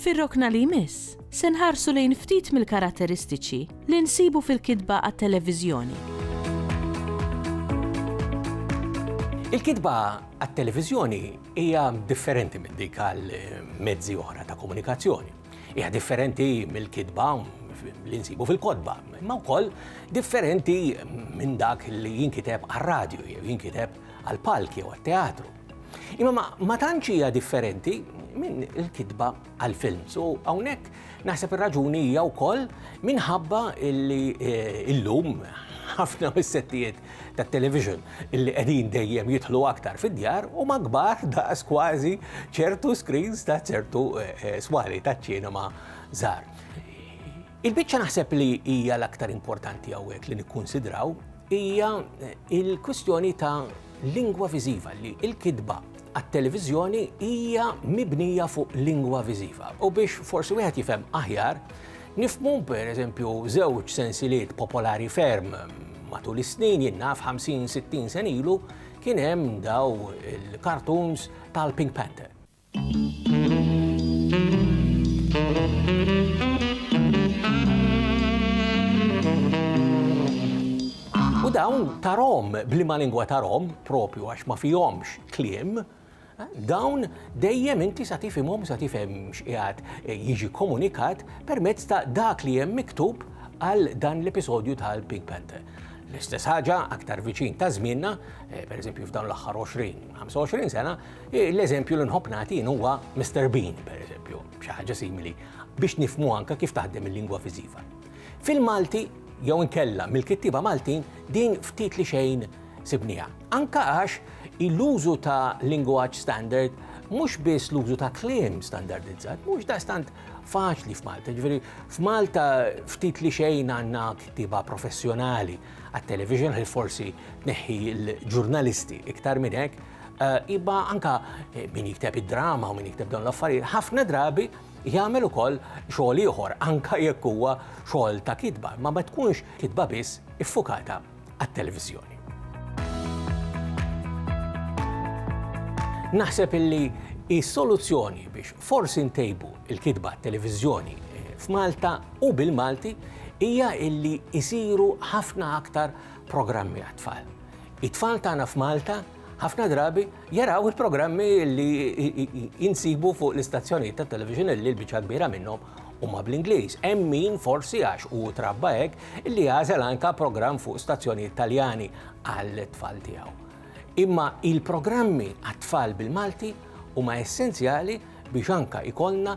Fir-rokna li jmiss, se nħarsu lejn ftit mill-karatteristiċi li nsibu fil-kitba għat-televiżjoni. Il-kitba għat-televiżjoni hija differenti minn dik għal mezzi oħra ta' komunikazzjoni. Hija differenti mill-kitba li nsibu fil-kodba, imma wkoll differenti minn dak li jinkiteb għal radju jew jinkiteb għal palki jew għat-teatru. Imma ma, ma tantx hija differenti minn il-kitba għal-films. U hawnhekk naħseb ir-raġuni hija wkoll minħabba illi eh, illum ħafna mis-settijiet tat-television illi qegħdin dejjem jidħlu aktar fid-djar u magbar daqs kważi ċertu screens ta' ċertu eh, eh, swali ta' ċinema żgħar. Il-biċċa naħseb li hija l-aktar importanti hawnhekk li nikkunsidraw hija il-kwistjoni ta' lingwa viżiva li l-kitba għat-televiżjoni hija mibnija fuq lingwa viżiva. U biex forsi wieħed jifhem aħjar, nifmu per eżempju żewġ sensiliet popolari ferm matul is-snin jinnaf 50-60 sen ilu kien hemm daw il-kartuns tal-Pink Panther. U dawn ta' Rom, blima lingwa ta' Rom, propju għax ma fihomx kliem, dawn dejjem inti sa tifhimhom sa tifhem x'qiegħed jiġi komunikat permezz ta' dak li hemm miktub għal dan l-episodju tal-Pink Panther. L-istess ħaġa aktar viċin ta' żmienna, eh, pereżempju f'dan l-aħħar 20-25 sena, L-eżempju li nħobb nagħti jien huwa Mister Bean, pereżempju, xi ħaġa simili, biex nifhmu anke kif taħdem il-lingwa viżiva. Fil-Malti, jew inkella mill-kittieba Maltin, din ftit li xejn sibniha. Anke għax l-użu ta' lingwaġġ standard mhux biss l-użu ta' kliem standardizzat, mhux daqstant faċli f'Malta. Ġifieri f'Malta ftit li xejn għandna kittieba professjonali għat-television li forsi neħħi l-ġurnalisti iktar minn hekk, Iba anka min jikteb id-drama u min jikteb dawn l-affarijiet, ħafna drabi jagħmel ukoll xogħol ieħor, anka jekk huwa xogħol ta' kitba, ma ma tkunx kitba biss iffukata għat-televiżjoni. Naħseb illi is-soluzzjoni biex forsi ntejbu il-kitba televizjoni eh, f'Malta u bil-Malti hija illi jisiru ħafna aktar programmi għat-tfal. It-tfal tagħna f'Malta ħafna drabi jaraw il-programmi li jinsibu fuq l-istazzjonijiet ta' television li l-biċċa kbira minnhom huma bl-Ingliż. Hemm min forsi għax u trabba hekk li jażel anka programm fuq stazzjonijiet Taljani għal tfal tiegħu. Imma il-programmi għat-tfal bil-Malti huma essenzjali biex anka ikollna